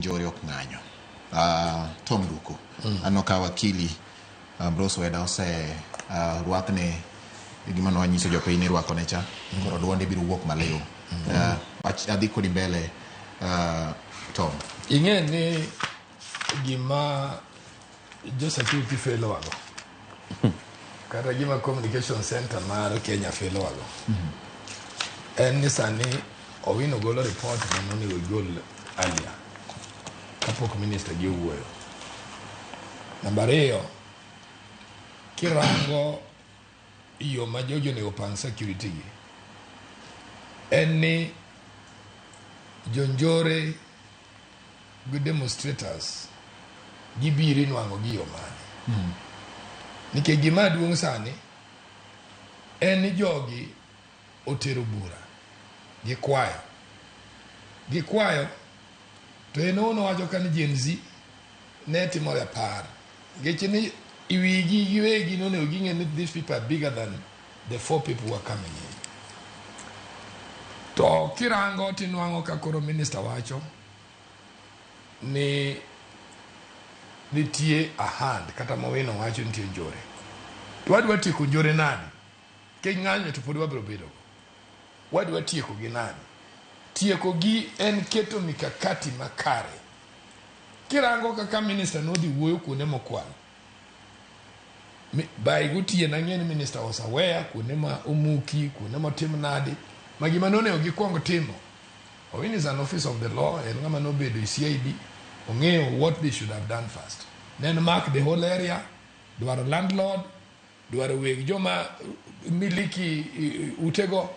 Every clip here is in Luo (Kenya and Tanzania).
Njore ok ng'anyo. Uh, Tom Ruko, mm. anno ka wakili uh, ah, Bros Weda ose uh, ah, rwakne gima nwanyiso jopiny ni rwakone cha mm. koro dwonde biro wuok maliw mm. uh, adhi kodi mbele uh, Tom. Ing'e ni gima Josecurity felo wago. Kata gima Communication Center mar Kenya felo wago. En ni sani Owino golo report ma nonego igol earlier kapok minister gi owuoyo. Namba ariyo, kirango yo ma jogi onego opang security gi, en ni jonjore gi demonstrators gibiro inwang'o gi yo mane hmm. nikech gima duong' sani en ni jogi otero bura gikwayo gikwayo to en ono wacho ka ni Gen Z ne timo rapar nikech ni iwigi giwegi nonego ging'e ni these people are bigger than The four people were coming in. To kirango tinwang'o ka koro minister wacho ni nitie a hand kata ma wino wacho nitie njore. To wadwa tieko njore nadi? Kech ng'anyo to pod wabiro bedo. Wadwa tieko gi nadi? Tieko gi en keto mikakati makare. Kirango kaka minister nodhi wuoyo kuonde mokwal, Mi- by gotieno ang'e ni minista was aware kuonde ma omuki kuonde motim nadi ma gima nonego gikwong timo owin is an office of the law en ng'ama nobedo e cid ong'eyo what they should have done first then mark the whole area dwaro landlord dwaro weg joma miliki eh, utego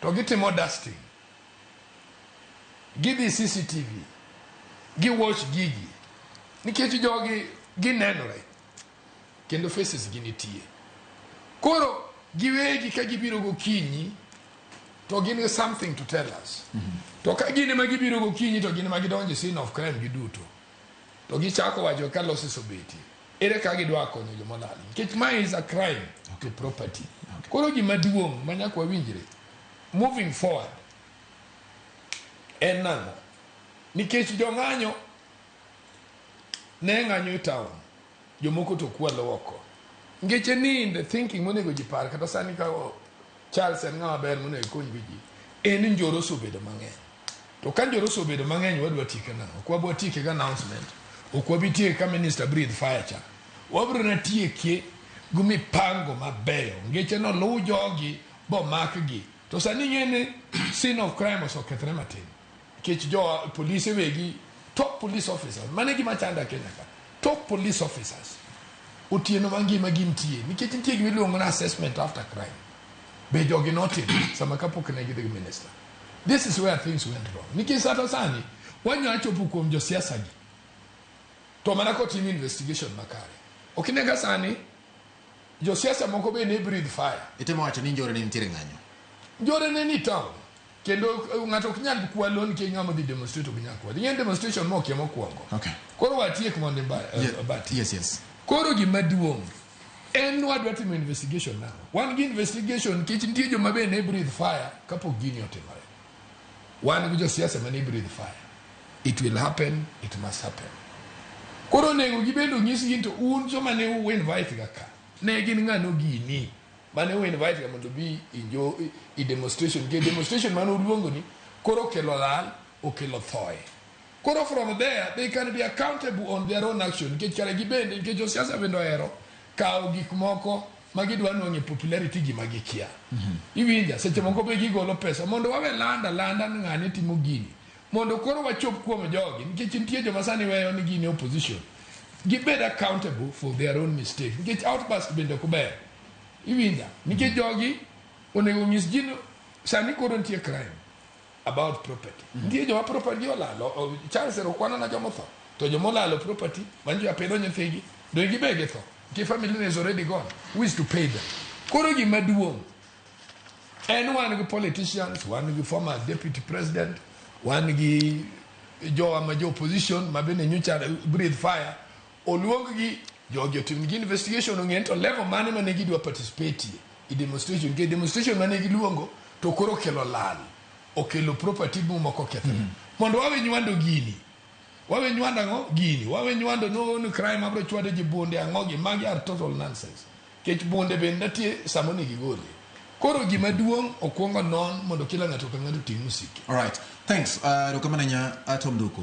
to gitimo dusting gidhi CCTV gi watch gigi nikech jogi ginenore kendo faces gi nitie koro giwegi ka gibiro gokinyi to gin gi something to tell us mm -hmm. to ka gin ema gibiro gokinyi to gin ema gidonje sin of crime giduto to gichako wacho ka losses obetie ere ka gidwa konyo jomolal nikech mae is a crime okay. to property okay. koro gima duong' manyaka wawinjre moving forward en nang'o nikech jong'anyo ne ng'anyo e town jomoko to kwalo oko nikech e ni in the thinking monego ji par kata sani ka o- charles en ng'ama ber monego ikony gi ji en ni njoro osebedo mang'eny to ka njoro osebedo mang'eny wadwa tieke nang'o ok wabwa tieke gi announcement ok wabi tieke ka minister breathe fire cha wabiro na tiekie gi mipango mabeyo ngeche noluw jogi bomakgi to sani ing'e ni scene of crime osekethre matin nikech jo polise wegi top police officers mane gima chanda kenya ka top police officers otieno mangima gintie nikech nitie gima iluongo na assessment after crime be jogi notim sama kapok ne gidhi gi minister this is where things went wrong nikech sata sani wanya chopo kuom josiasa gi to mana kotim investigation makare ok inega sani Josiasa moko be ne breathe fire. Itemo wacho ni njore ne nitiere ng'anyo? Njore ne ni town. Kendo eh, ng'ato ok nyal kwa loan ki ng'ama dhi demonstrate ok nyal kwa. Dhi en demonstration mo kia mokwongo. Okay. Koro watiek mondo ba, eh, Ye- bati. Yes, yes. Koro gima duong' en wadwa timo investigation now. Wan gi investigation nikech nitie joma be ne breathe fire kapok gini otimore. wan gi josiasa mane breathe fire it will happen it must happen koro onego gibendo nyis gin to un joma ne u invite ga ka ne gin ng'ano gini mane u invite ga mondo bi injo i demonstration ke demonstration mane uluongo ni koro okelo lal okelo thoe koro from there they can be accountable on their own action nikech kare gibende nikech josiasa bende ohero kawo gik moko ma gidwa nwang' e popularity gima gikia. Iwinja, seche moko be gigolo pesa mondo wawe landa landa ni ng'ane timo gini. Mondo koro wachop kuom jogi nikech nitie joma sani weyo ni gin e opposition. Gibed accountable for their own mistake nikech outburst bende ok ber. Iwinja, nikech jogi onego onyis ji ni sani koro nitie crime. about property mm -hmm. nitie joma property olalo charles ero kwanona joma otho to joma olalo property mani jo apidho nyithigi donge gibe githo nitie family ne is already gone who is to pay them koro gima duong' en wan gi politicians wan gi former deputy president wan gi jowa ma jo opposition ma bende nyocha breathe fire Oluonggi jogi otimnigi investigation ong'e ni to level mane ma ne gidwa participate e demonstration nikech demonstration ma ne giluongo to koro okelo lal, okelo property moko okethore. Mondo wawe nywando gini. Wawe nywando ang'o? Gini. Wawe nywando ni oh, ni crime abiro chwade ji bunde ang'o gi. Magi are total nonsense. Nikech bunde bende nitie sama onego igolie. Koro gima duong' okwong onon mondo kila ng'ato ka ng'ato oting' msike. Alright. Thanks. Uh, erokamano ahinya uh, Tom Duku.